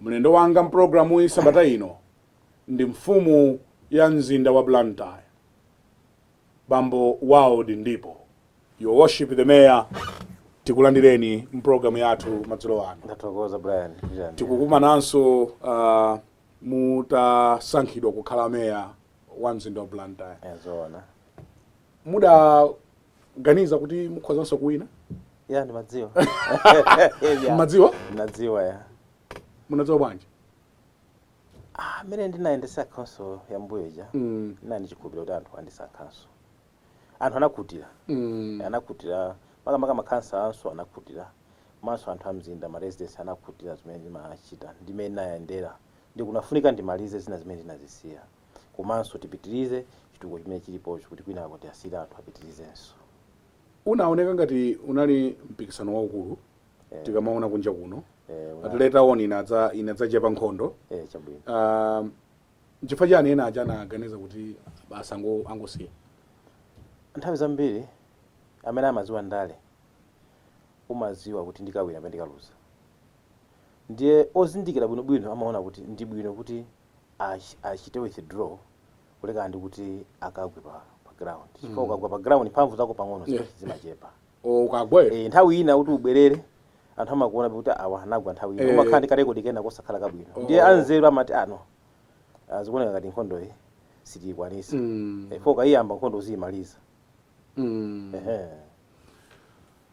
Mlendo wanga m'pulogalamuyi sabata ino ndi mfumu ya mzinda wa Blantyre, Bambo Wild Ndipo. Your Worship the Mayor, tikulandireni m'pulogalamu yathu madzulo ano. Ndathokoza Brian. Tikukumananso uh, mutasankhidwa kukhala meya wa mzinda wa Blantyre. E zoona. Muda ganiza kuti mukhozanso kuwina ya ndimadziwa Ya, madziwa ndimadziwa ya munadziwa bwanji Ah, mmene ndinayendetsa khansolo ya mmbuyo ija Mm, ndinali nchikhulupiriro kuti anthu andisankhanso anthu anakhutira mm, anakhutira makamaka makhansala anzanga anakhutira komanso anthu amzinda ma residents anakhutira zimene ndimachita ndi mmene ndinayendera nde kunafunika ndimalize zina zimene ndinazisiya komanso tipitirize chitukuko chimene chilipochi kuti kwinako tiasiyire anthu apitirizenso. Unaoneka ngati unali mpikisano waukulu Eh. tikamaona kunja kuno Eh, una- at later on inadza inadzachepa nkhondo eh, chabwino. Ah, nchifukwa chani ena aja anaganiza kuti basi ango- angosiya nthawi zambiri amene amadziwa ndale umadziwa kuti ndikawina pena ndikaluza ndiye ozindikira bwinobwino amaona kuti ndi bwino kuti achite withdraw kulekana ndi kuti akagwe pa, pa ground chifukwa mm. ukagwa pa ground mphamvu zako pang'ono yeah. zimachepa oh, ukagwe e, nthawi ina kuti ubwerere anthu amakuona kuti awa anagwa nthawi ina eh. umakhala ndi karekodi kena kosakhala kabwino oh. ndiye anzeru amati ah no ah, zikuoneka ngati nkhondo iyi sitiyikwanisa mm. e, eh, for ukaiyamba nkhondo uziyimaliza mm.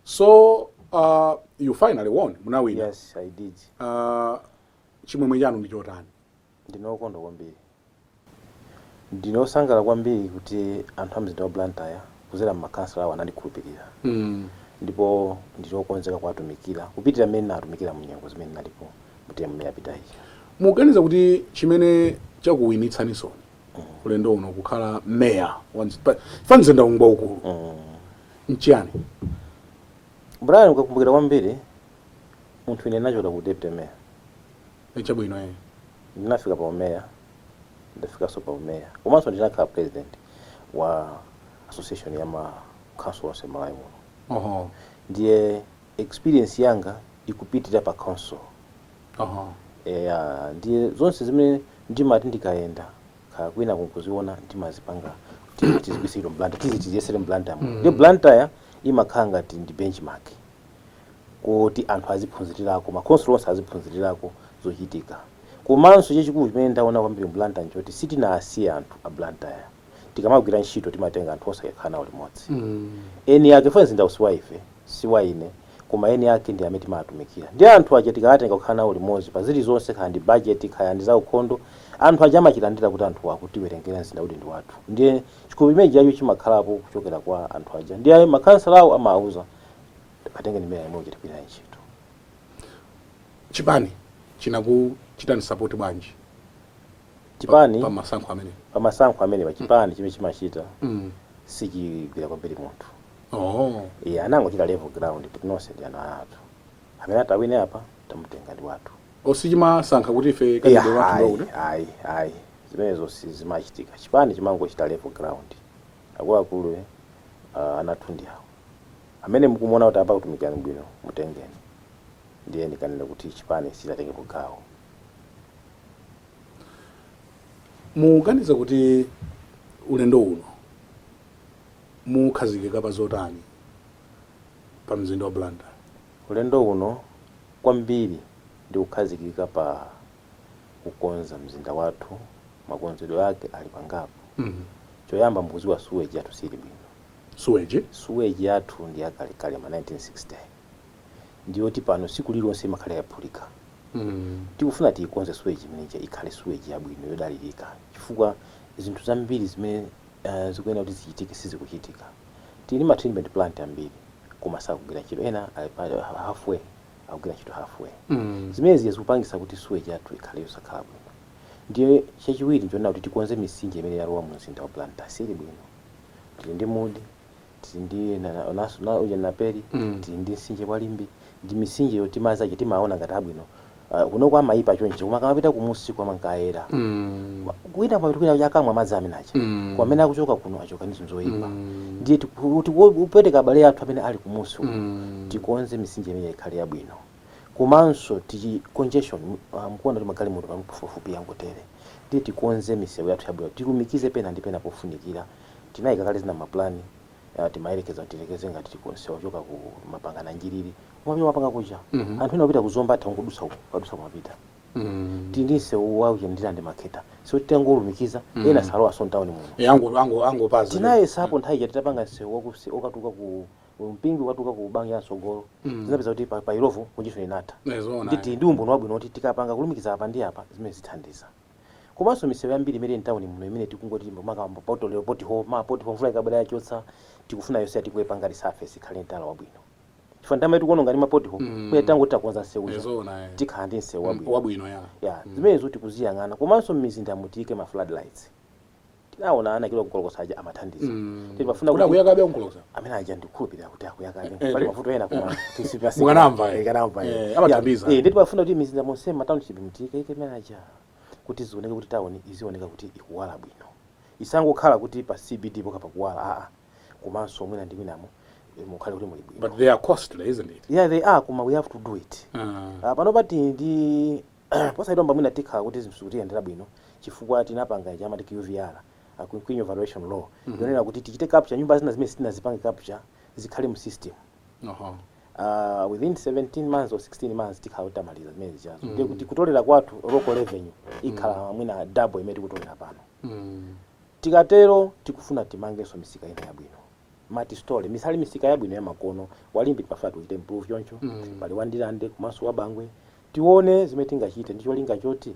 so uh, you finally won munawina yes i did uh, Chimwemwe chanu ndi chotani? Ndine wokondwa kwambiri. Ndine wosangalala kwambiri kuti anthu a mzinda wa Blantyre kudzera mmakhansala awo anandikhulupirira ndipo ndili wokonzeka kuwatumikira kupitirira mmene ndinawatumikira munyengo zimene ndinalipo mu term yapita ija. Mukuganiza kuti chimene chakuwinitsaninsoni ulendo uno kukhala mayor wa chifukwa mzindawu ngwaukulu nchiyani? Brian, ukakumbukira kwambiri Munthu ine ndinachokera ku deputy mayor. E chabwino e. Ndinafika pa umeya ndafikanso pa umeya komanso ndinakhala president wa association ya ma council onse Malawi muno. Oho. Ndiye experience yanga ikupitirira pa council. Oho. Eya ndiye zonse zimene ndimati ndikayenda kaya kwina kuli nkuziona ndimazipanga kuti tizibweretse Blantyre tizi tiziyesere Blantyre. Mm. Ndiye Blantyre imakhala ngati ndi benchmark. koti anthu aziphunzirirako, makhonsolo onse aziphunzirirako zochitika. Komanso chachikulu chimene ndaona kwambiri mu Blantyre n'choti sitinawasiye anthu a Blantyre. Tikamagwira ntchito timatenga anthu onse kukhala nawo limodzi. Eni ake chifukwa mzindawu si wa ife, si wa ine, koma eni ake ndi amene timawatumikira. Ndiye anthu aja tikawatenga kukhala nawo limodzi pa zilizonse, kaya ndi bajeti, kaya ndi zaukhondo, anthu aja amachilandira kuti anthuwa akutiwerengera mzinda kuti ndi wathu. Ndiye chikhulupiriro chimenechi chija chimakhalapo kuchokera kwa anthu aja. Ndiye makhansalawo amawauza. atenge ndi mmene yemwe uchitipira ntchito chipani chinakuchitani support bwanji chipani pa masankho amene pa masankho amene pa chipani chimene chimachita mm. sichigwira kwambiri munthu oh. iye anangochita level ground kuti nonse ndi ana athu amene atawine apa tamutenga ndi wathu sichimasankha kuti ife candidate wathu ayi ayi zimenezo sizimachitika chipani chimangochita level ground Akuluakulu ana athu ndi awa. Amene mukumuona kuti apa akutumikirani bwino mutengeni. Ndiye ndikanene kuti chipani sichidatengepo gawo. Mukuganiza kuti ulendo uno mukhazikika pa zotani pa mzinda wa Blantyre? Ulendo uno kwambiri ndi kukhazikika pa. kukonza mzinda wathu makonzedwe ake ali pangapo mm. choyamba mukuziwa suweji yathu sili bwino suweji suweji yathu ndi yakalekale ma 1960 ndiyoti pano siku lilonse imakhala yaphulika mm. tikufuna tiyikonze suweji imeneja ikhale suweji yabwino yodalirika chifukwa zinthu zambiri zimene uh, zikuyenera kuti zichitike sizikuchitika tili ma treatment plant ambiri koma sakugwira ntchito ena ali pa halfway akugwira ntchito halfway mm. zimenezi zikupangisa kuti suweji yathu ikhale yosakhala bwino ndiye chachiwiri ndiona kuti tikonze misinje imene yalowa mu mzinda wa Blantyre sili bwino tili ndi Mudi tili ndi na- na- naso- na- uja Naperi Mm. tili ndi msinje wa Limbe ndi misinje yoti madzi ake timaona ngati abwino Ah, kunoko amayipa chonchi koma akamapita kumusiku amankayera Mm. Wina amapita kwina aja akamwa madzi amene aja mm. kwa amene akuchoka kuno achoka ndi zinthu zoyipa mm. ndiye tikupweteka abale athu amene ali kumusi uko mm. tikonze misinje imene ikhale yabwino komanso decongestion uh, mkuona kuti magalimoto pafupifupi yangotere ndiye tikonze misewu yathu yabwino tilumikize pena ndi pena pofunikira tinayika kale zina maplani uh, timayerekeza kuti tiyerekeze ngati tikonze wa kuchoka ku mapangana njiriri umapita Mapanga kuja mm -hmm. anthu ena opita ku Zomba atha kungodusa uko kadusa kumapita Mm. tili ndi msewu wa uja Ndirande Makhetha so titangolumikiza Mm. ena salowaso mtawuni muno Eh, ango ango angopaza. tinayesapo nthawi ija titapanga msewu wakusi okatuluka ku Mpingwe ukatuluka ku Bangwe ya mtsogolo Mm. tinapeza kuti pa pa Illovo congestion inatha Eh, zoona. nditi ndi umboni wabwino kuti tikapanga kulumikiza apa ndi apa zimene zithandiza komanso misewu yambiri imene mtawuni muno imene tikungoti makambo pothole lero pothole mawa poti mvula ikabwera yachotsa tikufuna yonse ija tikuipanga resurface ikhale n'tala wabwino chifukwa nthawi imene tikuononga ndi ma pothole Mm. kuya tangoti takonza nsewu uja Ezoona eh. tikhala ndi nsewu wabwino Wabwino ya. ya Mm. zimenezo tikuziyang'ana komanso m'mizinda mu tiyike ma floodlights tinaona ana kilo ku Nkolokosa aja amathandiza Mm. Timafuna Kuda kuti- akuyakabe a Nkolokosa amene aja ndikhulupirira kuti akuyakabe Eh, pali eh. mavuto ena koma tisipasi Mukanamva, eh. ikanamva Eh, amathandiza. ndiye timafuna kuti mizinda monse ma township mu tiyikeyike amene aja kuti zioneke kuti town izioneka kuti ikuwala bwino isangokhala kuti pa cbd pokha pakuwala aa komanso mwina ndi mwinamo eh, mukhale kuti muli bwino But they are costly, isn't it? yeah they are koma we have to do it Uh, Ah, pano pati ndi posaitomba mwina tikhala kuti zinthu zikutiyendera bwino chifukwa tinapanga ija amati qvr ah, quinquennial valuation roll yonena kuti tichite capture nyumba zina zimene sitinazipange capture zikhale mu system uh-huh. uh, within 17 months or 16 months tikhala kuti tamaliza zimene zijazo ndiye kuti kutolera kwathu local revenue ikhala mwina double imene tikutolera pano Mm. Tikatero tikufuna timangenso misika ina yabwino, multi-storey. Misali misika yabwino yamakono, wa Limbe timafuna tiuchite improve choncho, pali wa Ndirande komanso wa Bangwe. Tione zimene tingachite ndi cholinga choti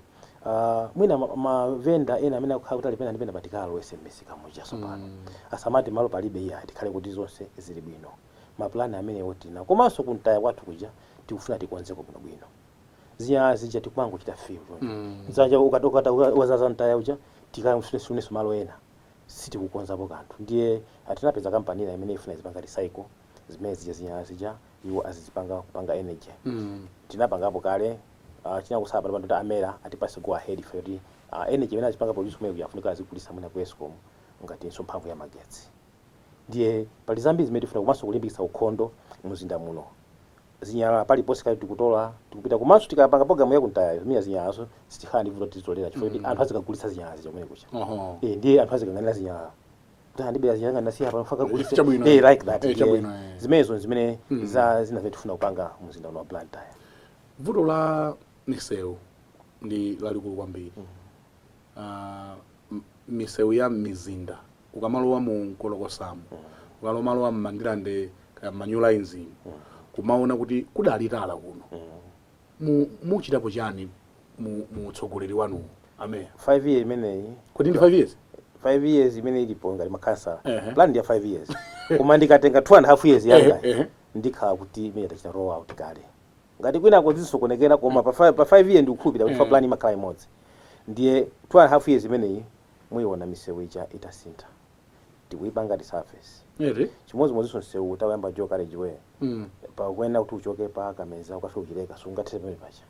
mwina ma vendor ena amene akukhala kuti ali pena ndi penapa tikawalowetse m'misika muja tsopano. Asamati malo palibe iyayi, tikhale kuti zonse zili bwino. Ma plan amenewo tili nawo. Komanso ku mtaya kwathu kuja tikufuna tikonzeko bwinobwino. zinyalala zija tikumangochita fill mm. zanja ukatokata wazaza mtaya uja tikafunenso malo ena sitikukonzapo kanthu ndiye ah tinapeza kampani ina imene ifuna izipanga recycle zimene zija zinyalala zija iwo azizipanga kupanga energy mm. tinapangapo kale uh, ah, chinakusala pano pano a MERA atipase go ahead ife kuti uh, energy imene azipanga produce kumene kuja afunika azigulisa mwina ku escom ngatinso mphamvu ya magetsi ndiye pali zambiri zimene tifuna komanso kulimbikitsa ukhondo mumzinda muno zinyalala paliponse kaya tikutola tikupita komanso tikapanga program ya kumtaya zimene zinyalazo sitikhala ndi vuto tizitolera chifukwa kuti anthu azikagulitsa zinyalala zija kumene kuja Oho. eh ndiye anthu azikanganira zinyalala kuti andibera zinyalala zanga ndinasiya pano nkagulitse Chabwino. eh like that Eh, chabwino, eh. Eh, zimenezo zimene za zina zimene tifuna kupanga mu mzinda uno wa Blantyre vuto la misewu ndi lalikulu kwambiri ah, m- misewu ya mmizinda ukamalowa mu nkolokosamu ukamalowa mmandirande kaya mma New Lines kumaona kuti kudali tala kuno Mu- muchitapo chani mu mu utsogoleri wanu ameya 5 year imeneyi kodi ndi 5 years 5 years imene ilipo ngati makhansala Ehe. plan ndi ya 5 years koma ndikatenga 2 and a half years yanga Ehe, ehe. ndikhala kuti imene tachita roll out kale Ngati kwinako zisokonekera koma pa 5 pa 5 year ndikukhulupirira kuti mm. plan imakhala imodzi. Ndiye 2 and half years imeneyi muiona misewu ija itasintha. Tikuipanga resurface. Really? Chimodzimodzinso msewu tauyamba dual carriageway. Mm. Pakunena kuti uchoke pa Kameza ukafike ku Chileka sungathe pamene paja.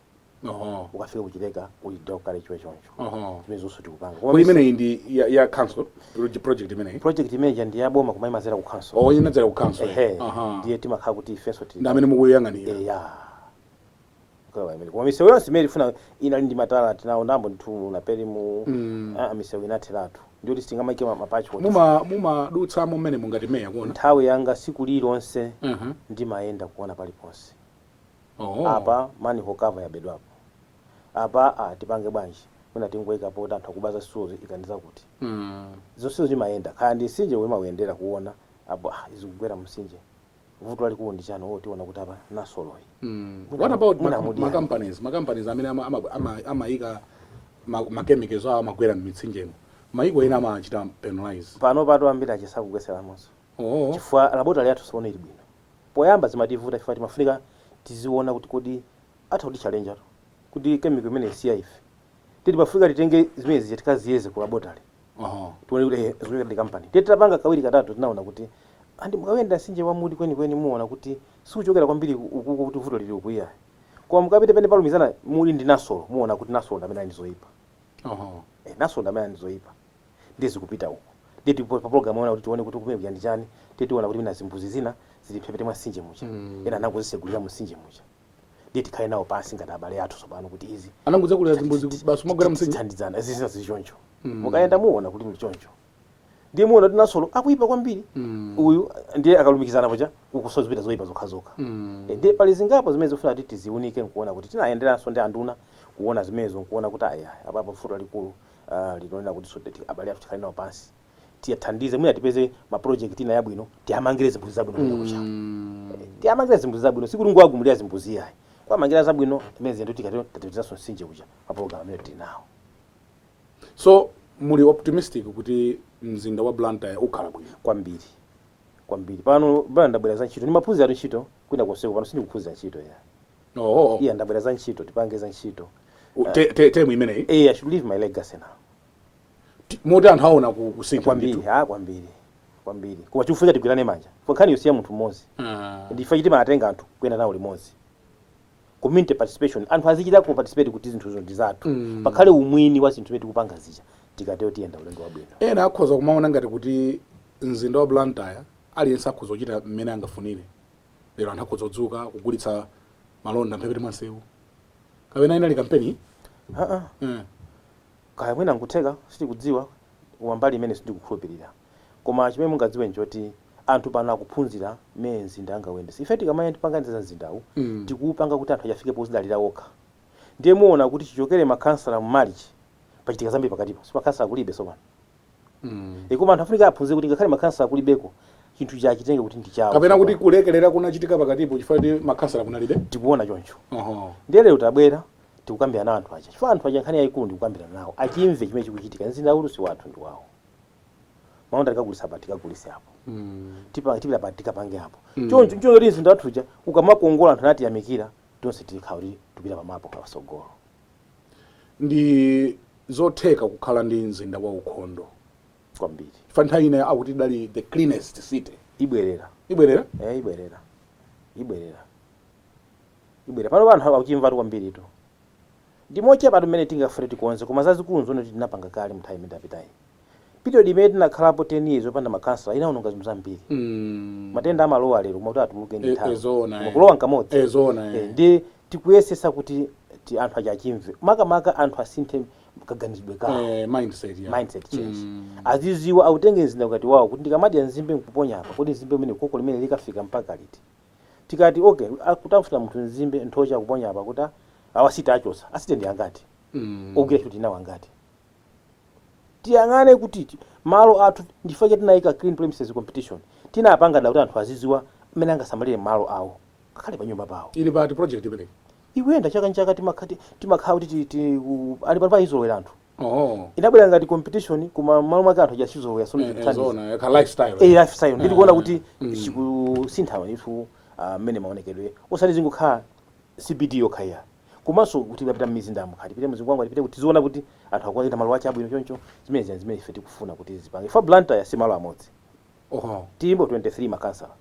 Oho. Uh -huh. Ukafika ku Chileka uli dual carriageway choncho. Oho. zimene zonse tikupanga Kodi imeneyi ndi ya, ya council Road project imeneyi. project imeneja ndi yaboma koma imadzera ku council Oh, inadzera ku council. ehe Aha. ndiye timakhala kuti ifenso tili Ndi amene mukuyang'anira. eya Kukawa imene. koma misewu yonse imene tifuna inali ndi matala tinawo ndambo ndithu Naperi mu Mm. ah, misewu inatheratu ndiyoti sitingamaike ma- mapachi kuti Muma mumadutsamo mmene mungati meya kuona. nthawi yanga siku lilonse Mhm. ndimayenda kuona paliponse Oh. apa manhole cover yabedwapo apa aa tipange bwanji mwina tingoika poti anthu akuba za zitsulozo ika ndi zakuti zonsezi timayenda kaya ndi mtsinje omwe timauyendera kuona apo ah izi zikugwera mumtsinje vuto lalikulu ndi chani oh tiona kuti apa nasoloyi what about Mwina ma- mudi ma yani. companies ma companies amene ama- ama- ama- amaika ma- ma chemicals awo amagwera m'mitsinjemo maiko ena amachita penalize pano pato ambiri achepetsa kugwetseramonso oh chifukwa laboratory yathu tsono ili bwino poyamba zimativuta chifukwa timafunika tiziona kuti kodi atha kutitchalenjatu kuti chemical imeneyi si ya ife ndiye timafunika titenge zimene zija tikaziyeze ku laboratory tione kuti ehe zikuchokera ndi company ndiye titapanga kawiri katatu tinaona kuti and mukayenda mtsinje wa mudi kwenikweni muona kuti siuchokera kwambiri ku- ukuko kuti vuto lili uku iyayi koma mukapita pamene palumikizana mudi ndi nasolo muona kuti nasolo ndi amene ali ndi zoyipa eh, nasolo ndi amene ali ndi zoyipa ndiye zikupita uko ndiye tili pa program yonena kuti tione kuti kumene kuja ndi chani ndiye tiona kuti mwina zimbuzi zina zili mphepete mwa mtsinje muja ena anangozitsekulira mu mtsinje muja ndiye tikhale nawo pansi ngati abale athu tsopano kuti izi anangotsekulira zimbuzi kuti basi kumagwera mtsinje tithandizana izi zina zili choncho mukayenda muona kuti ndi choncho ndiye muona kuti nasolo akuipa kwambiri uyu ndiye akalumikizana paja ukunso zipita zoipa zokhazokha Eh, ndiye pali zingapo zimene zifuna kuti tiziunike nkuona kuti tinayenderanso ndi anduna kuona zimenezo nkuona kuti aya apapo vuto lalikulu ndi lonena kuti so that abale athu tikhale nawo pansi tiwathandize mwina tipeze ma project ina yabwino tiwamangire zimbuzi zabwino kumene kuja tiwamangire zimbuzi zabwino sikuti kungowagumulira zimbuzi ayi kuwamangira zabwino imene zinthu tikati tatipitizaso mtsinje kuja pa program imene tili nawo so muli optimistic kuti mzinda wa blantyre ukhala bwino kwambiri kwambiri pano bwana ndabwera za ntchito ndimaphunziratu ntchito kwina konseko pano sindikuphunzira ntchito ya oh, iya ndabwera za ntchito tipange za ntchito te, te, temu imeneyi Eh, I should leave my legacy now. Ti- moti anthu aona ku- kusintha kwambiri ndithu. ha kwambiri kwambiri koma chikufunika tigwirane manja kwa nkhani yosiya munthu mmodzi Ah. ndi chifukwa chake timatenga anthu kuyenda nawo limodzi community participation anthu azichita ku participate kuti zinthuzo ndi zathu Mm. pakhale umwini wa zinthu zimene tikupanga zija tikatero tiyenda ulendo wabwino ena akhoza kumaona ngati kuti mzinda wa blantyre aliyense akhoza kuchita mmene angafunire lero anthu akhoza kudzuka kugulitsa malonda mphepete mwa msewu kapena inali kampeni Ah, ah. Eh. Kaya mwina nkutheka sitikudziwa koma mbali imeneyo sindikukhulupilira koma chimene mungadziwe nchoti anthu pano akuphunzira mmene mzinda angawuyendetse ife tikamayenda pankhani za mzindawu tikuwupanga kuti anthu aja afike pozidalira wokha ndiye muwona kuti chichokere ma khansala mu March pachitika zambiri pakatipa nchifukwa ma khansala kulibe tsopano. Mm. E, koma anthu afunika aphunzire kuti ngakhale makhansala kulibeko chinthu ichi achitenge kuti ndi chawo kapena kuti kulekelera kunachitika pakatipo chifukwa kuti makhansala kunalibe tikuona choncho Oho. ndiye lero tabwera tikukambirana anthu aja chifukwa anthu aja nkhani yayikulu ndikukambirana nawo achimve chimene chikuchitika mzinda uno si wathu ndi wawo mavenda tikagulisa apa tikagulise apo Mm. tipa- tipita pa tikapange apo choncho choncho kuti mzinda wathu uja ukamakongola anthu natiyamikira Tonse tili kufuna kuti tikupita pa mapu pasogolo. Ndi zotheka kukhala ndi mzinda wa ukhondo. kwambiri. Chifukwa nthawi ina akuti idali the cleanest city. Ibwerera. Ibwerera? Eya, ibwerera. Ibwerera. Ibwerera. Panopa anthu akuchimvatu kwambiritu. Ndi mochepatu mmene tingafune tikonze koma zazikulu nzomwe tinapanga kale mnthawi imene tapitayi. Period imene tinakhalapo 10 years opanda ma councillor inaononga zinthu zambiri. mm. Matenda amalowa lero koma kuti atuluke ndi e, e, nthawi. zoona Koma eh. kulowa nkamodzi. e, zoona eh. Eh, ndiye tikuyesesa kuti ti anthu aja achimve. Makamaka anthu asinthe kaganizidwe kawo. eh, mindset ya mindset change mm. aziziwa autenge mzinda ngati wawo kuti ndikamadya nzimbe nkuponya apa kodi nzimbe imene khoko limene likafika mpaka liti tikati ok akutafuna munthu nzimbe nthochi akuponya apa kuti a wa city achotsa a city ndi angati ogwira ntchito tinawo angati tiyang'ane kuti ti- malo athu nchifukwa chake tinayika clean premises competition tinapanga dala kuti anthu azidziwa mmene angasamalire malo awo ngakhale pa nyumba pawo ili pa project imeneyi ikuyenda chaka nchaka timakhati timakhala kuti ti- ti- u- ali pano akuizolowera anthu Oh. inabwera ngati competition koma mmalo mwake anthu achizolowera so Eh, eh, ndikuthandiza zoona, yekha lifestyle. eh lifestyle ndili kuona kuti Mm. chikusinthawa ndithu ah, mmene maonekedwe osati zingokhala cbd yokhayo komanso kuti kupita mmizinda mukati tipite mu Zingwangwa tipite kuti tiziona kuti anthu akuwachita malo ache abwino choncho zimene zina zimene ife tikufuna kuti zipange chifukwa blantyre si malo amodzi Oho. tilipo 23 makansala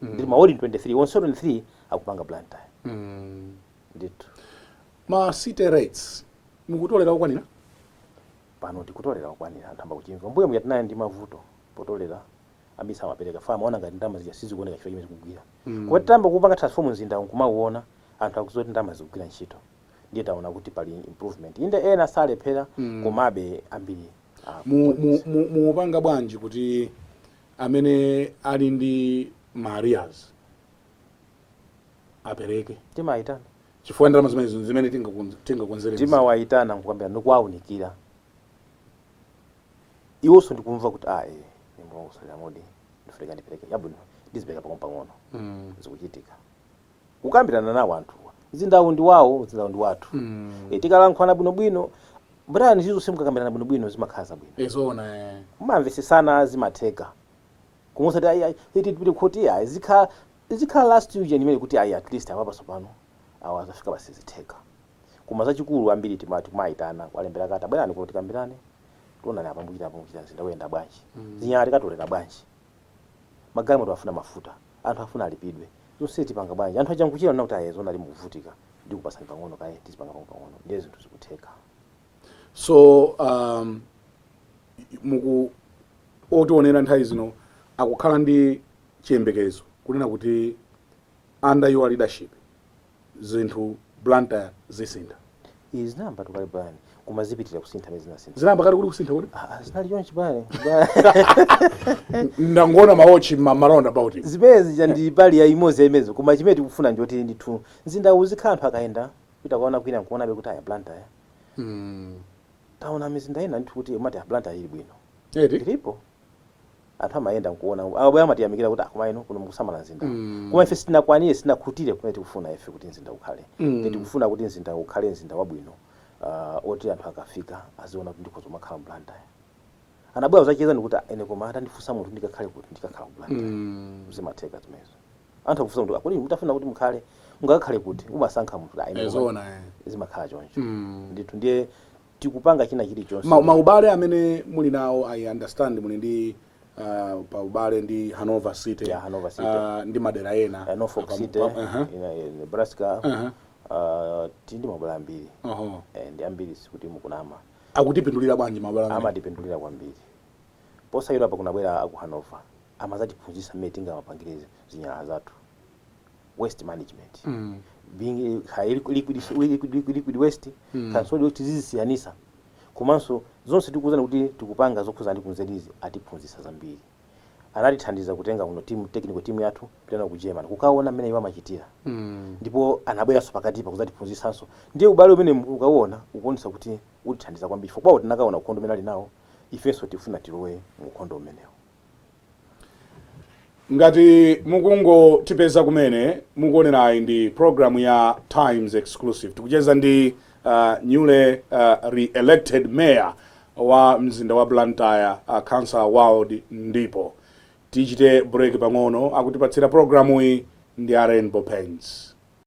Mm. ndili mawodi 23 onse 23 akupanga blantyre Mm. ndithu Ma city rates mukutolera okwanira? Pano tikutolera okwanira anthu ayamba kuchimva. Mmbuyomu tija tinali ndi mavuto potolera ambiri samapereka chifukwa amaona ngati ndalama zija sizikuoneka chifukwa chimene zikugwira. Koma titayamba kuupanga transform mzindawu n'kumauona anthu akudziwa kuti ndalama zikugwira ntchito ndiye taona kuti pali improvement. Inde ena amalephera komabe ambiri Mu, mu, akutolera. mu, muupanga bwanji kuti amene ali ndi ma arrears apereke? Timaitana chifukwa ndalama zimenezo ndi zimene tingakonze- tingakonzere mzinda. timawayitana nkukambirana ndikuwawunikira iwonso ndikumva kuti a e mulungu salamudi ndifunika ndipereke chabwino ndizipereka pang'onopang'ono Mm. zikuchitika kukambirana nawo anthuwa mzindawu ndi wawo mzindawu ndi wathu Mm. e, tikalankhulana bwinobwino brian zinthu zonse mukakambirana bwinobwino zimakhala zabwino Eh, zoona eh. mumamvesesana zimatheka Koma osati ayi eti tipite kukhoti ayi izikhala izikhala last ujeni imene kuti ayi at least apapa tsopano awa zafika pa sizitheka. Koma zachikulu ambiri tima tikumaitana kuwalembera kalata bwerani kuno tikambirane tionane apa mukuchita apa mukuchita mzinda uyenda bwanji zinyalala tikatolera bwanji magalimoto afuna mafuta anthu afuna alipidwe zonsezi tipanga bwanji anthu aja nkuchita kunena kuti ayi zoonadi mukuvutika ndikupatsani pang'ono kaye tizipanga pang'ono pang'ono ndiye zinthu zikutheka. so um, muku otionera nthawi zino akukhala ndi chiyembekezo kunena kuti under your leadership zinthu blantyre zisintha izi zinayamba kale brian koma zipitirira kusintha mene zinasintha zinayamba kale kuti kusintha kuti Ah, ah, zinali chonchi brian ndangoona mawotchi mma roundabout zimene zija ndi mbali imodzi ya zimenezi koma chimene tikufuna nchoti ndithu mzindawu uzikhala anthu akayenda Kupita kukaona kwina nkuonabe kuti aya Blantyre mm. taona mizinda ina ndithu kuti umati a Blantyre ili bwino Eti? ilipo anthu amayenda nkuona akabwera amatiyamikira kuti a koma ino kuno mukusamala mzinda mm. koma ife sitinakwanire sitinakhutire kumene tikufuna ife kuti mzinda ukhale mm. ife tikufuna kuti mzinda ukhale mzinda wabwino uh, oti anthu akafika aziona kuti ndikhoza kumakhala mu Blantyre anabwera kudzacheza ndikuti ine koma atandifunsa munthu ndikakhale kuti ndikakhala ku Blantyre mm. zimatheka zimenezo anthu akufunsa kuti a kodi mutafuna kuti mukhale mungakakhale kuti umasankha munthu ayi, Eh, ndipo zoona eh. zimakhala choncho Mm. ndithu ndiye tikupanga china chilichonse Ma- maubale amene muli nawo i understand muli ndi uh, pa ubale ndi hanover city, Yeah, Hanover City. Uh, ndi madera ena Eh, Norfolk Apa- City pa- aha. ina- eh, Nebraska Aha. ah, tili ndi maubale ambiri Oho. Eh, ndi ambiri sikuti mukunama akutipindulira bwanji maubale amene? amatipindulira kwambiri posachedwapa kunabwera aku Hanover amazatiphunzisa mmene tingamapangire zinyalala zathu waste management mm. being eh, ha- liquid, liquid, liquid, liquid, liquid waste mm. kapena solid kuti tizizisiyanisa komanso zonse tikuzana kuti tikupanga zokhuza ndi ku nurseries atiphunzisa zambiri anatithandiza kutenga kuno timu technical timu yathu kupita nayo ku german kukaona mmene iwo amachitira mm. ndipo anabweranso pakatipa kuzatiphunzisanso ndiye ubale umene ukauona ukuonesa kuti utithandiza kwambiri chifukwa kwawo tinakaona ukhondo umene ali nawo ifenso tifuna tilowe mu ukhondo umenewo ngati mukungotipeza kumene mukuonerayi ndi programu ya times exclusive tikucheza ndi uh, newly uh, re-elected mayor wa mzinda wa blantyre uh, councilor wild ndipo tichite break pang'ono akutipatsira programu iyi ndi a rainbow paints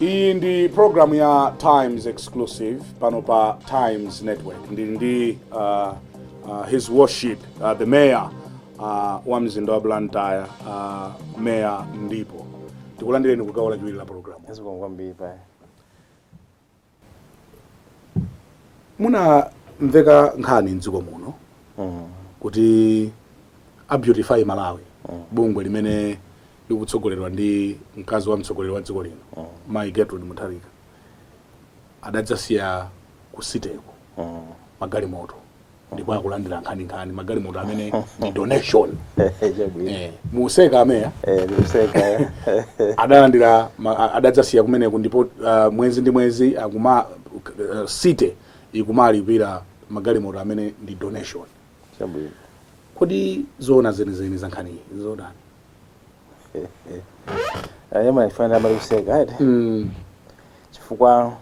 iyi ndi programu ya times exclusive pano pa times network ndili ndi uh, uh, his worship uh, the mayor uh, wa mzinda wa blantyre uh, mayor ndipo tikulandireni kugawo lachiwiri la programu Zikomo kwambiri. munamveka nkhani mdziko muno kuti a beautify malawi bungwe limene likutsogoleredwa ndi mkazi wa mtsogoleri wa dziko lino mayi gertrude mutharika adadzasiya kusiteko magalimoto ndipo akulandira nkhaninkhani magalimoto amene ndi donation eh, museka ameya eh, adalandira adadzasiya kumeneko ndipo uh, mwezi ndi mwezi akuma uh, city ikumalipira magalimoto amene ndi donation kodi zoona zenizeni za nkhani iyi nzotani Eya ndimafuna ndimalize kuseka ati mm. chifukwa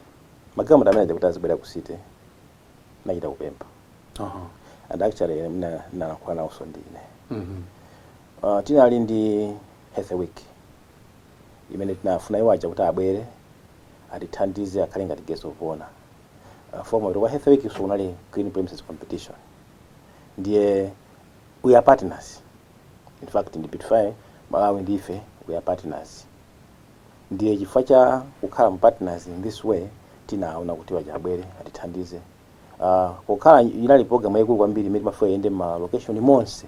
magalimoto amene aja kuti azibwera ku city ndinachita kupempha Aha. and actually ndina- ndinalankhula nawonso ndine Mhm. uh, tinali ndi health week imene tinafuna iwo aja kuti abwere atithandize akhale ngati guest of honor uh, for mwambo wa health week so unali clean premises competition ndiye we are partners in fact ndi beautify malawi ndife we are partners ndiye chifukwa cha kukhala mu partners in this way tinaona kuti iwo aja abwere atithandize uh, pokhala inali program yaikulu kwambiri imene timafuna iyende ma location monse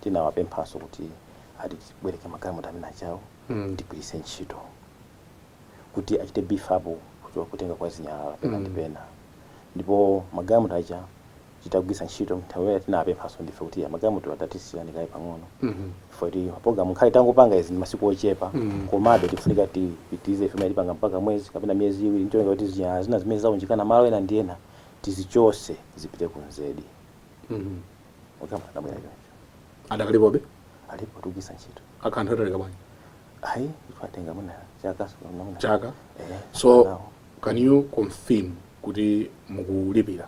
tinawapemphanso kuti atibwereke magalimoto amene aja awo Mm. tigwiritse ntchito kuti achite beef up kuchoka kutenga kwa zinyalala pena ndi pena ndipo magalimoto aja titagwiritsa ntchito nthawi yake tinapemphanso ndife kuti magalimotowa tatisiyani kaye pang'ono chifukwa choti mapulogalamu ngakhale tangopanga izi m'masiku ochepa komabe tikufunika tipitirize ife imene tipanga mpaka mwezi kapena miyezi iwiri ncholinga kuti zinyalala zina zimene zaunjikana malo ena ndi ena tizichotse zipite ku nzedi magalimoto anabwera choncho adakalipobe alipo tikugwiritsa ntchito akhala nthawi yatalika bwanji ayi yatenga mwina chaka kapena mwina- chaka Eh, so now can you confirm kuti mukulipira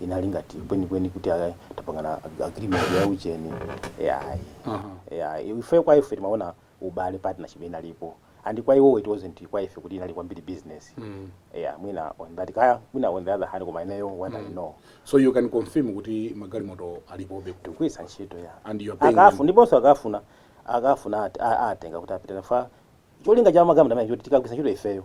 inali ngati kwenikweni kuti aka- tapangana ag- agreement ya ujeni yayi ya ife kwa ife timaona ubale partnership inalipo and kwa iwo it wasn't kwa ife kuti inali kwambiri business yeah mwina on that kaya mwina on the other hand koma ineyo what i know so you can confirm kuti magalimoto alipobe ku- kugwiritsa ntchito ya and you are paying akafu Mm. ndiponso akafuna akafuna ati- a- atenga kuti apite nawo cholinga cha magalimoto amene nchoti tikagwiritsa ntchito ifeyo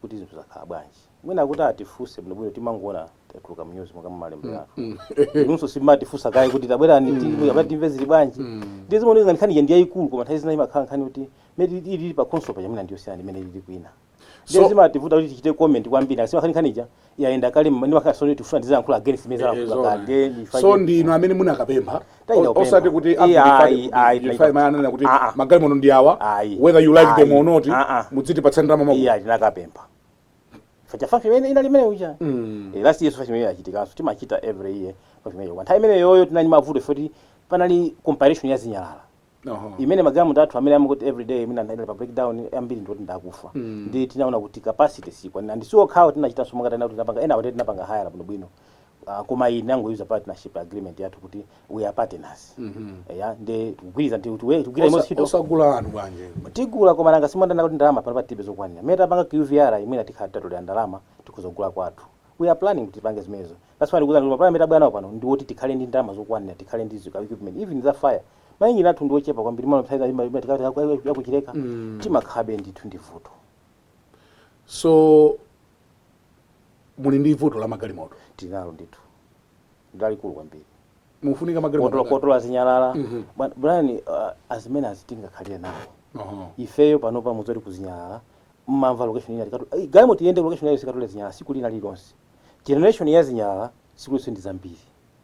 kuti zinthu zakhala bwanji mwina kuti atifunse bwinobwino timangoona zatuluka mnyuzi monga mumalemberatu inunso simutifunsa kaye kuti tabwerani ti- abati timve zili bwanji ndiye zimaoneka ngati nkhani ija ndi yayikulu koma nthawi zina imakhala nkhani kuti imene ili- ili pa khonsolo paja mwina ndiyosiyana ndi imene ili kwina So- ndiye zimativuta kuti tichite comment kwambiri chifukwa nkhani ija yayenda kale ndi makhansala sitifuna tizayankhula against zimene alankhula kale ndiye ndifa- so ndi inu amene munakapempha Tayenda kupempha. osati kuti Iya, ayi, ayi, tayenda amene ananena kuti Ah, ah. magalimoto ndi awa Ayi. whether you like them Ayi. or not Ah, ah. muzitipatsa ndalama mwa- iya tinakapempha facha fafi imene inali imene uja Mm. Eh, last year fafi imene yachitikanso timachita every year fafi imene kwa nthawi imene yoyo tinali mavuto oti panali campaign ya zinyalala Oho. imene magalimoto athu amene amakuti everyday imene anali pa breakdown ambiri ndi oti ndi akufa Mm. ndi tinaona kuti capacity siyikwanira and si okhawo tinachitanso monga tanena kuti tinapanga ena kuti tinapanga hire bwinobwino uh, koma iyi tinangochita use partnership agreement yathu kuti we are partners Mhm. eya ndi tikugwirizana ndi kuti we tikugwira imodzi Osa- ntchito osagula anthu bwanji tigula koma nanga si mwamva kuti ndalama pano patibe zokwanira mmene tapanga qvr imene tikhala tatolera ndalama tikhoza kugula kwathu we are planning kuti tipange zimenezo that's why ndikukuuzani kuti mapulani amene tabwera nawo pano ndi woti tikhale ndi ndalama zokwanira tikhale ndi zika equipment even za fire mainjini athu ndi ochepa kwambiri mwina nthawi zina ima- ima- tikati aku- aku- akuChileka Mm. timakhalabe ndithu ndi vuto so muli ndi vuto la magalimoto tili nalo ndithu lalikulu kwambiri mufunika otola magalimoto otola zinyalala Mhm. Bwa- Brian uh, ndi mmene tingakhalire nawo Oho. ifeyo panopa mudziwe kuti zinyalala mmavuta location ina tikati "Ai, galimoto iyende location iyo ikatole zinyalala tsiku lina lilonse generation ya zinyalala tsiku lililonse ndi zambiri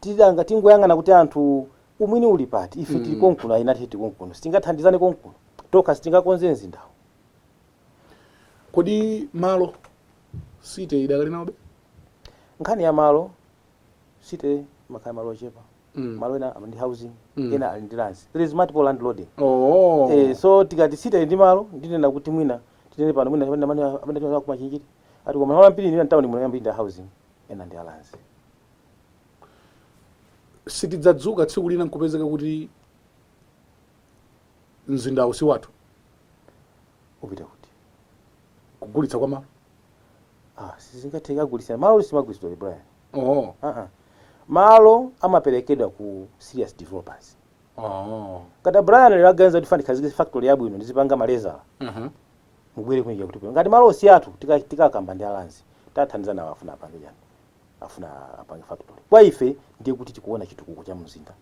Titadanga tingoyang'ana kuti anthu umwini uli pati? Ife tili konkuno, inu muli konkuno, sitingathandizane konkuno? Tokha sitingakonze mzindawu. Kodi malo City idakali nawobe? Nkhani ya malo, City imakhala malo ochepa. Malo ena ndi housing, ena ali ndi lands. There is multiple landlording. Oh. Eh, so tikati City ili ndi malo, ndinena kuti mwina tinene pano mwina amene amene amene tili nawo ku Machinjiri. Ati koma malo ambiri ndi mtawuni muno ambiri ndi a housing, ena ndi a lands. sitidzadzuka tsiku lina nkupezeka kuti mzindawu si wathu upita kuti kugulitsa kwa malo ah sizingatheke kugulitsa malo samagulitsidwa Brian oh. ah ah malo amaperekedwa ku serious developers Oh. ngati a Brian lero aganiza kuti ndifuna ndikhazikitse factory yabwino ndizipanga malezala Mhm. mubwere kuja kuti ngati malo si athu tika- tikakamba ndi a lands tathandizana nawo afuna apange chani afuna apange factory kwa ife ndiye kuti tikuona chitukuko cha mzinda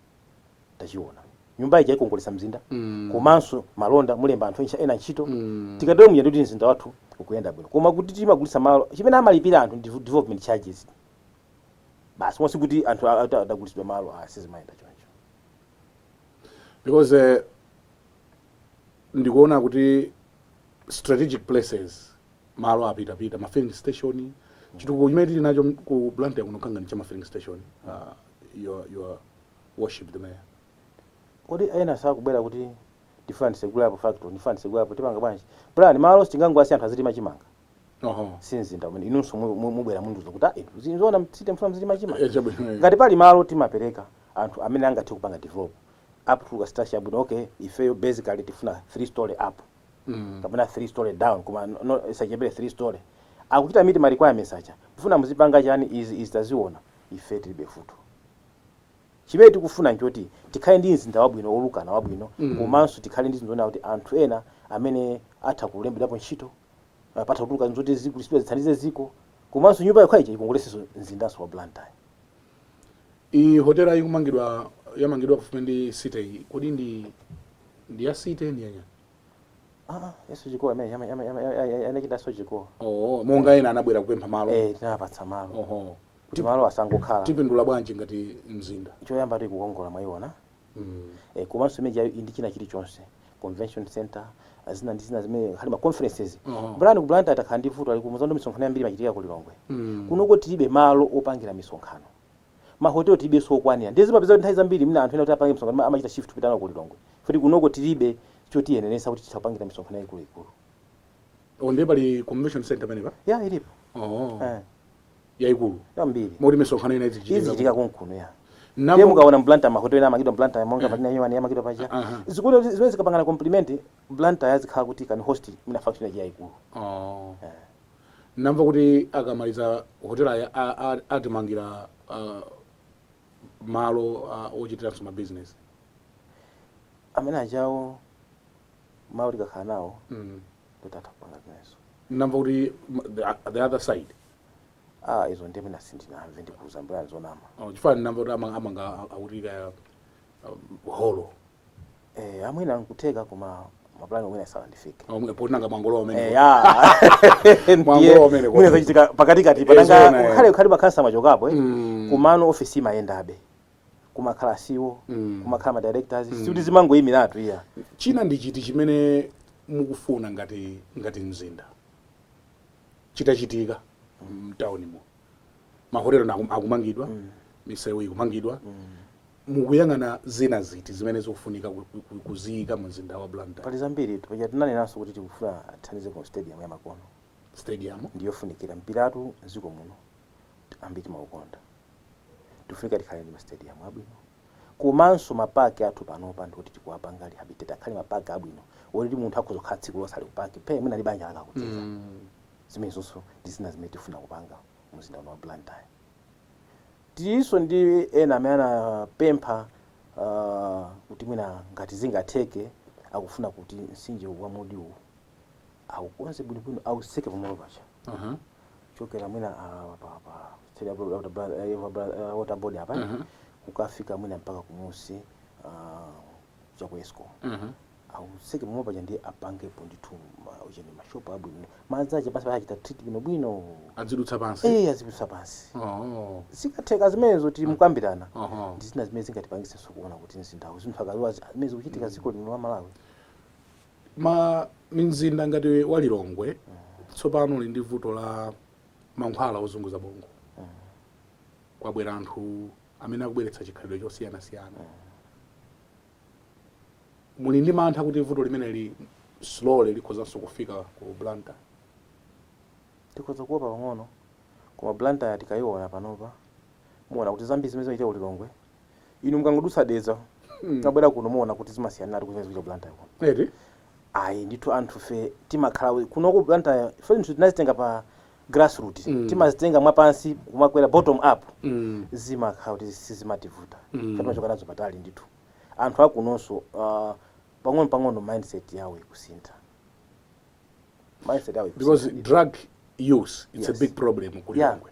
tachiona nyumba ija ikongoletsa mzinda mm. komanso malonda mulemba anthu encha ena ntchito mm. tikatero muja ndikuti mzinda wathu ukuyenda bwino koma kuti timagulitsa malo chimene amalipira anthu ndi development charges basi osati kuti anthu a- ata- adagulitsidwa malo ah sizimayenda choncho because eh, ndikuona kuti strategic places malo apitapita ma filling station chitukuko chimene tili nacho ku blantyre kuno kanga ndi cha ma filling station uh, your, your worship the mayor kodi ena sakubwera kuti ndifuna ndisegulapo factory ndifuna ndisegulapo tipanga bwanji plan malo sitingangowasiya anthu azilima chimanga oho si mzinda umene inunso mu- mu- mubwera mundiuza kuti ayi izi nzoona mu city mfuna muzilima chimanga Eh, chabwino, eh. ngati pali malo timapereka anthu amene angathe kupanga develop up to structure bwino okay ifeyo basically tifuna three story up kapena 3 story down koma no- no- isachepere 3 story akuchita meet ma requirements aja kufuna muzipanga chani izi izi taziona ife tilibe vuto chimene tikufuna nchoti tikhale ndi mzinda wabwino olukana wabwino komanso tikhale ndi zinthu zoona kuti anthu ena amene atha kulembedwapo ntchito eh, patha kutuluka zoti zikagulitsidwa zithandize ziko komanso nyumba yokha ija ikongolesenso mzindanso wa blantyre Iyi hotela ikumangidwa yamangidwa pafupi ndi city iyi. Kodi ndi ndi ya city ndi yanya? Ah, ah, ya Sogecoa amene yama- yama- yama- ya- ya- ama China Sogecoa Oh, monga ena anabwera kupempha malo. eh tinapatsa malo Oho. kuti malo asangokhala Tipindula bwanji ngati mzinda? choyamba tikukongola mwayiona eh, komanso imene ijayo ndi china chilichonse convention center ah, zina ndi zina zimene khali ma conferences Oh. Blantyre ku Blantyre takhala ndi vuto ali kumuzondo misonkhano yambiri imachitika ku Lilongwe Mm. kunoko tilibe malo opangira misonkhano mahotelo tilibe sokwanira ndiye zimapezeka kuti nthawi zambiri mwina anthu ena kuti apange misonkhano amachita shift kupita nawo ku Lilongwe poti kunoko tilibe chotiyenereza kuti titha kupangira misonkhano yaikuluikulu Oh, ndiye pali convention center pamenepa ya ilipo oh. eh. yaikulu kwambiri moti misonkhano ina izichitika izichitika konkuno ya Namo- ndiye mukaona m'Blantyre mahotela ena amangidwa m'Blantyre monga patina yomani yamangidwa paja Aha. zikuti kuti zimenezi zikapangana compliment Blantyre izikhala kuti can host mwina function yachi yaikulu Oh. namva kuti akamaliza hotela ya- a- a- atimangira ah, malo ah, ochitiranso mabizinesi amene ajawo malo tikakhala nawo Mm. kuti atha kupanga zimenezo namva kuti m- the, the other side ah izo ndiye mwina sindinamve ndikuuza mbuyani zonama Oh, chifukwa namva kuti amanga, amanga akuti kaya um, holo eh ah mwina nkutheka koma mapulani mwina sanandifike Omwe- poti nanga mwangolowa kumene Eh, ya. Mwango Ndiye, wamene kwa- mwina zachitika pakatikati Eh, patanga zoona, eh. ukhale ukhale makhansala amachokapo eh. Mm. komano ofesi imayendabe kumakhala CEO mm. kumakhala ma directors mm. sikuti zimangoyimiratu iyayi china ndi chiti chimene mukufuna ngati ngati mzinda chitachitika mtaunimo mahotelo akumangidwa mm. misewu ikumangidwa mm. mukuyang'ana zina ziti zimene zikufunika kuziyika mu mzinda wa blantyre pali zambiri paja tinanenanso kuti tikufuna tithandize ku stadium yamakono stadium ndiyofunikira mpiratu mdziko muno ambiri timaukonda tifunika tikhale ndi mastadium abwino komanso mapaki athu panopa ndikuti tikuwapanga rehabilitate akhale mapaki abwino oti munthu akhoza kukhala tsiku lonse ali ku paki phe mwina ndi banja lake akucheza zimenezonso ndi zina zimene tifuna kupanga mu mzinda uno wa blantyre tilinso ndi ena amene anapempha ah, kuti mwina ngati zingatheke akufuna kuti mtsinje wa mudiwu aukonze bwinobwino auseke pamalo paja Mhm. chokera mwina ah, pa pa site ya bro- water bra- eh, water bra- eh, water board apa Mhm. kukafika mwina mpaka kumunsi ah, cha ku escom Mhm. auseke pamalo paja ndiye apangepo ndithu ma- u chain mashopu abwino madzi ake pansi pachita treat bwinobwino azidutsa pansi eh azidutsa pansi Oh. zikatheka zimenezo tili m'kukambirana Aha. ndi zina zimene zingatipangisenso kuona kuti mzindawu zinthu akaziwa zimene zikuchitika dziko lino la malawi Ma mizinda ngati wa Lilongwe tsopano uli ndi vuto la mankhwala ozunguza bongo. Kwabwera anthu amene akubweretsa chikhalidwe chosiyanasiyana. Muli ndi mantha kuti vuto limeneli slowly likhozanso kufika ku Blantyre? Tikhoza kuopa pang'ono, koma Blantyre tikaiona panopa, muona kuti zambiri zimene zimachitika ku Lilongwe inu mukangodutsa dedza kumabwera kuno muona kuti zimasiyaniratu ndi zimene zikuchitika blantyre kuno eti ayi ndithu anthufe timakhala we- kuno ku blantyre zinthu tinazitenga pa grassroot Mm. timazitenga mwapansi kumakwera bottom up Mm. zimakhala kuti sizimativuta Mm. timachoka nazo patali ndithu anthu akunonso ah, pang'ono pang'ono mindset yawo ikusintha mindset yawo ikusintha because ndithu. drug use it's Yes. a big problem ku Yeah. lilongwe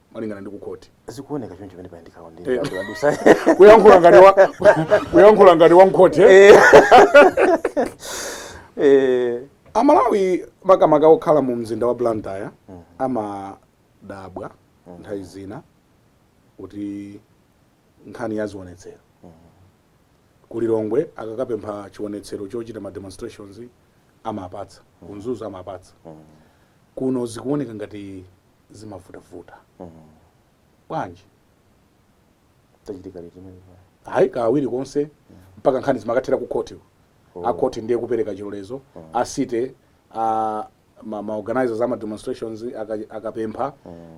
malingana ndi ku khoti zikuoneka choncho pamene pali ndikaona ndi Eh. adusa kuyankhula ngati wa kuyankhula ngati wa mkhoti eh? eh amalawi makamaka okhala mu mzinda wa blantyre amadabwa nthawi zina kuti nkhani ya zionetsero kulilongwe akakapempha chionetsero chochita ma demonstrations amapatsa ku mzuzu amapatsa kuno zikuoneka ngati zimavutavuta bwanji zachitika liti zimenezo ayi kawiri konse mpaka nkhani zimakathera ku khoti Oh. a khoti ndiye kupereka chilolezo a city a ma, ma organizers ama demonstrations aka- akapempha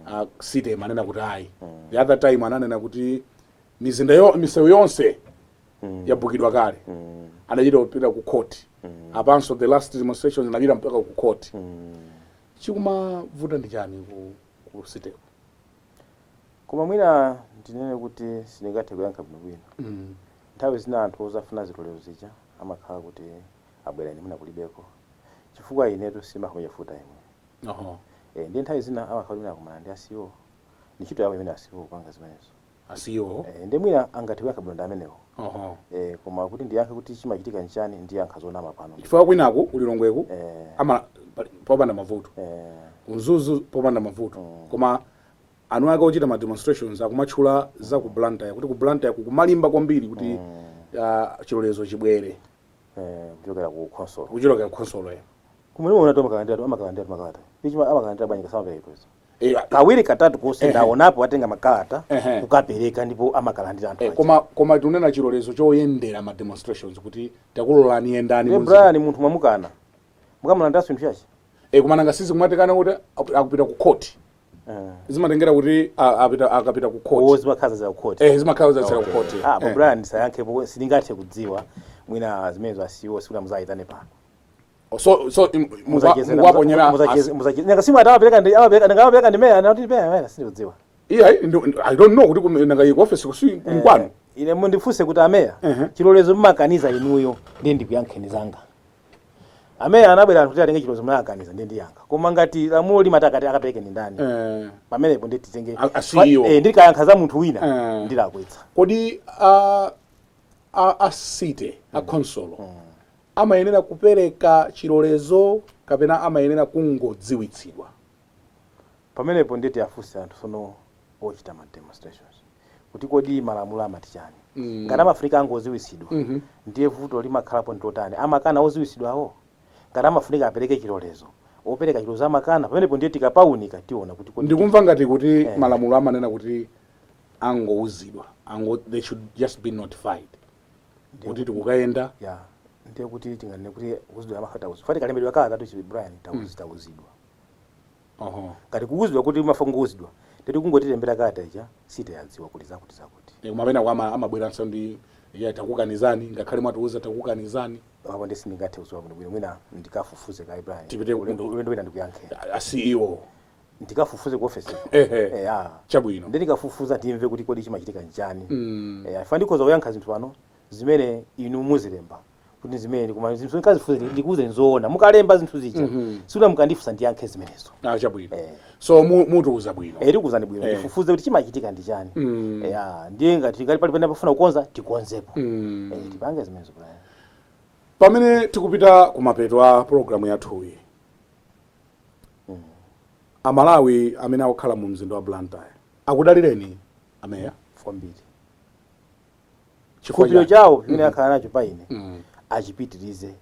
a city imanena kuti ayi the other time ananena kuti mizinda yo, misewu yonse yabukidwa kale anachita kupita ku khoti apanso the last demonstrations anapita mpaka ku khoti Chikumavuta ndi chani ku ku city ku. Koma mwina ndinene kuti sindingathe kuyankha bwinobwino. Nthawi zina anthu ozafuna zilolezo zija amakhala kuti abwera ine mwina kulibeko. Chifukwa inetu sindimakhala meya full time. Eeh ndiye nthawi zina amakhala kuti mwina akumana ndi a CEO. Ndi ntchito yawo imene a CEO kupanga zimenezo. a CEO Eh, nde mwina angathe kuyankha bwino ndi amenewo oho eh, koma kuti ndiyankhe kuti chimachitika nchani ndiyankha zonama pano chifukwa kwinaku ku Lilongweku eh, ama pali- popanda mavuto eh, ku Mzuzu popanda mavuto koma anthu ake ochita ma demonstrations akumatchula za ku blantyre kuti ku blantyre kukumalimba kwambiri kuti ah, chilolezo chibwere eh, kuchokera ku khonsolo kuchokera ku khonsolo ya kumene munaonatu amakalandira tu amakalandira tu makalata koma amakalandira bwanji osamapereka izo Eh, kawiri katatu konse ndaonapo atenga makalata Ehe. kukapereka ndipo amakalandira anthu Eh, aja. koma koma tikunena chilolezo choyendera ma demonstrations kuti takulolani yendani Iye munzi- Brian munthu mwamukana mukamulandira si nkhani yachi eh, koma nanga si zikumatheka kuti aku- akupita ku court zimatengera kuti a- apita akapita ku owo court zimakhala za kukhoti eh zimakhala za ku court Ah, apo Eh. Brian ndisayankhepo sindingathe kudziwa mwina zimenezo a CEO muzawayitane pano so so im- mukwa- Muzachezera- mukwaponyera muzache- as- muzache- nanga simuti amapereka ndi amapereka nanga amapereka ndi meya anati meya meya sindikudziwa iya i ndo- i don't know kuti kuno- nanga ku office ko si nkwanu ine mundifunse kuti ameya Ehe. chilolezo mumakaniza inuyo ndiye ndikuyankheni zanga ameya anabwera anthu kuti atenge chilolezo munakaniza ndiye ndiyankha koma ngati lamulo limati akuti akapereke ndi ndani Eh, pamenepo ndiye titenge A- a CEO. Eh, ndikayankha za munthu wina Eh. ndilakwitsa kodi a a a city a khonsolo amayenera kupereka chilolezo kapena amayenera kungodziwitsidwa? Pamenepo ndiye tiafunse anthu sono ochita ma demonstrations kuti kodi malamulo amati chani? Ngati amafunika angoziwitsidwa ndiye vuto limakhalapo ndi lotani? Amakana oziwitsidwawo? Ngati amafunika apereke chilolezo, opereka chilolezo amakana? Pamenepo ndiye tikapaunika tiona kuti kodi titani. Ndikumva ngati kuti malamulo amanena kuti angouzidwa, ango, they should just be notified. Ndiye kuti tikukayenda eya ndiye kuti tinganene kuti kuuzidwa amakhala tauzidwa ife atikalembedwa kalata chabe brian tauzi tauzidwa oho ngati kuuzidwa kuti mwafuna kungouzidwa ndiye kuti kungotilembera kalata ija city yadziwa kuti zakuti zakuti Eh, koma penapake ama- amabweranso ndi ayi takukanizani ngakhale mwatiuza takukanizani apo nde sindingathe kuziwa bwinobwino mwina ndikafufuze kaye brian Tipite- ulendo ulendo wina ndikuyankhe A- a ceo ndikafufuze ku office ko ehe eya chabwino ndiye ndikafufuza ndimve kuti kodi chimachitika nchani Mm. eya chifukwa ndikhoza kuyankha zinthu pano zimene inu muzilemba kuti zimene koma zinthu nkazifufuze ndikuuze nzoona mukalemba zinthu zija Mhm. si uja mukandifunsa ndiyankhe zimenezo ah chabwino Eh. so mu- mutiuza bwino eh tikuuzani bwino Eh. ndifufuze kuti chimachitika ndi chani Mm. eya ndiye ngati ngati pali pamene pafuna kukonza tikonzepo Mm. Eh, tipange zimenezo Brian pamene tikupita kumapeto a programu yathuyi amalawi amene akukhala mu mzinda wa blantyre akudalireni ameya kwambiri Chifukwa chikhulupiriro cha- chawo chimene akhala nacho pa ine achipitirize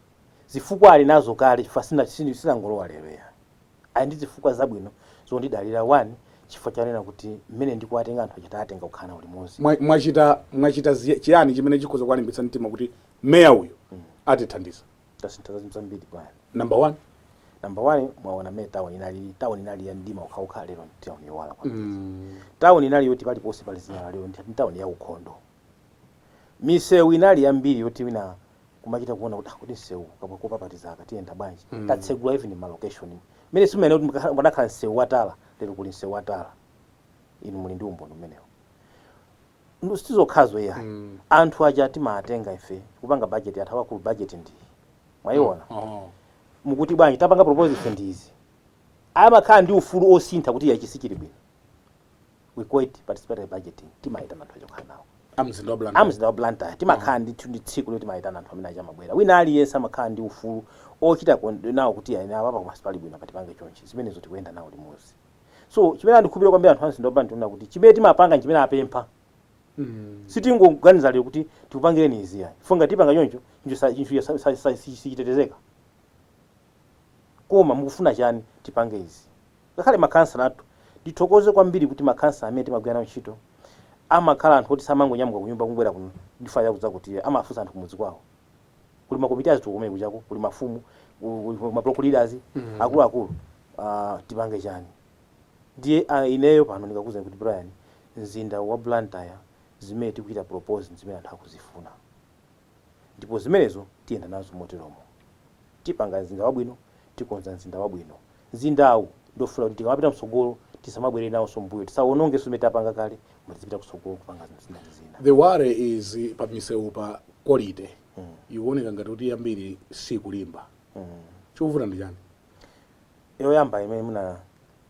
zifukwa ali nazo kale chifukwa sina- sini- sinangolowa lero ya ali ndi zifukwa zabwino zondidalira one chifukwa choona kuti mmene ndikuwatenga anthu achita atenga kukhala nawo limodzi Mwa- mwachita mwachita ziya- chiyani chimene chikhoza kuwalimbitsa mtima kuti meya uyu atithandiza tasintha za zinthu zambiri bwana number one number one mwaona mmene town inalili town inali ya mdima wokhawokha lero ndi town yowala kwambiri mm. town inali yoti paliponse pali zinyalala lero ndi town ya ukhondo misewu inali yambiri yoti wina kumachita kuona kuti "Ah, kodi msewu kabwa kopapatiza aka tiyenda bwanji Mm. tatsegula even ma location mmene simumaona kuti mukakhala- mukanakhala msewu wa tala lero kuli msewu wa tala inu muli ndi umboni umenewo Ndi sizokhazo iyayi anthu aja timawatenga ife kupanga budget anthu akuluakulu budget ndi iyi mwayiona mukuti bwanji tapanga propose ife ndi izi amakhala ndi ufulu osintha kuti iyayi ichi sichili bwino we call it participatory budgeting timayitana anthu aja kukhala nawo A mzinda wa Blantyre. amzinda wa Blantyre timakhala ndithu ndi tsiku loti timayitana anthu amene uja amabwera wina aliyense amakhala ndi ufulu ochita kon- nawo kuti ayi inu apa koma sipali bwino apa tipange chonchi zimenezo tikuyenda nawo limodzi so chimene andikhulupirira kwambiri anthu amzinda wa blantyre ndikuona kuti chimene timapanga nchimene apempha Mm. sitingoganiza lero kuti tikupangireni izi yayi chifukwa ngati tipanga choncho chinthu sa- chinthu sa- sa- sa- si- sichitetezeka koma mukufuna chani tipange izi ngakhale makhansala athu ndithokoze kwambiri kuti makhansala amene timagwira nawo ntchito amakhala anthu oti samangonyamuka kunyumba kubwera kuno ndipo ayi akudza kuti amafunsa anthu kumudzi kwawo kuli makomiti azitukuko kumene kujako kuli mafumu ku- ku- ku- ma block leaders akuluakulu ah, tipange chani ndiye ah, ineyo pano ndikakuuzani kuti brian mzinda wa blantyre zimene tikuchita propose ndi zimene anthu akuzifuna ndipo zimenezo tiyenda nazo moteromo tipanga mzinda wabwino tikonza mzinda wabwino Mzindawu ndiwofuna kuti tikamapita mtsogolo tisamabwerere nawonso m'mbuyo, tisawonongenso zimene tapanga kale koma tizipita kutsogolo kupanga zina ndi zina. The worry is pa misewupa quality ikuoneka ngati kuti yambiri sikulimba. Chikuvuta ndi chani? Yoyamba imene mwina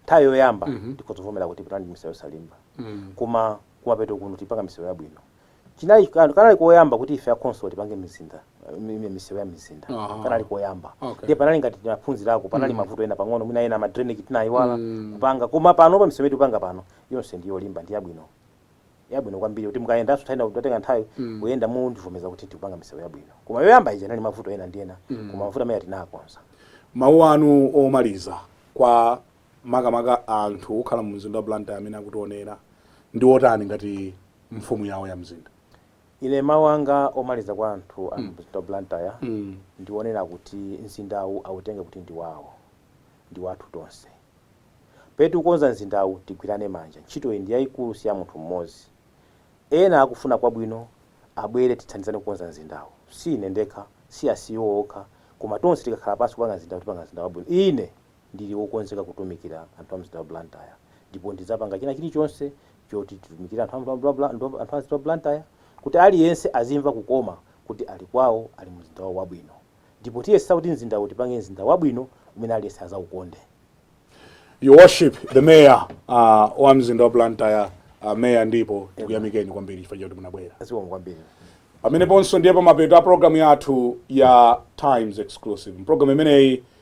nthawi yoyamba tikhoza kuvomera kuti tinali ndi misewu yosalimba koma kumapeto kuno tikupanga misewu yabwino. chinali kan- kanali koyamba kuti ife akhonsolo tipange mizinda mi- mi- misewu ya mizinda Aha. kanali koyamba Okay. ndiye panali ngati tinaphunzirako panali mavuto ena pang'ono mwina ena ma drainage tinayiwala Mm. kupanga koma pano pa misewu tikupanga pano yonse ndi yolimba ndi yabwino yabwino kwambiri kuti mukayendanso nthawi ina kutenga nthawi Mm. kuyenda mundivomereza kuti tikupanga misewu yabwino koma yoyamba ija inali mavuto ena ndi ena koma mavuto amene tinakonza mawu anu omaliza kwa makamaka anthu okhala mu mzinda wa Blantyre amene akutionera ndi otani ngati mfumu yawo ya mzinda? Ine mawu anga omaliza kwa anthu a mu mzinda wa Blantyre ndi onena kuti mzindawu autenge kuti ndi wawo, ndi wathu tonse. Pamene tikukonza mzindawu tigwirane manja, ntchitoyi ndi yaikulu si ya munthu mmodzi. Ena akufuna kwabwino abwere tithandizane kukonza mzindawu, si ine ndekha, si a CEO okha, koma tonse tikakhala pansi kupanga mzindawu tipanga mzinda wabwino. Ine! Ndili wokonzeka kutumikira anthu a mzinda wa Blantyre ndipo ndidzapanga china chilichonse choti titumikire anthu a mzinda wa Blantyre kuti aliyense azimva kukoma kuti ali kwawo, ali mumzinda wawo wabwino ndipo tiyesetsa kuti mzindawu utipange mzinda wabwino umene aliyense azaukonde. Your worship, the mayor wa mzinda wa Blantyre, Mayor Ndipo, tikuyamikeni kwambiri chifukwa choti munabwera. Zikomo kwambiri. Pameneponso ndiye pamapeto a program yathu ya Times Exclusive. M'program imeneyi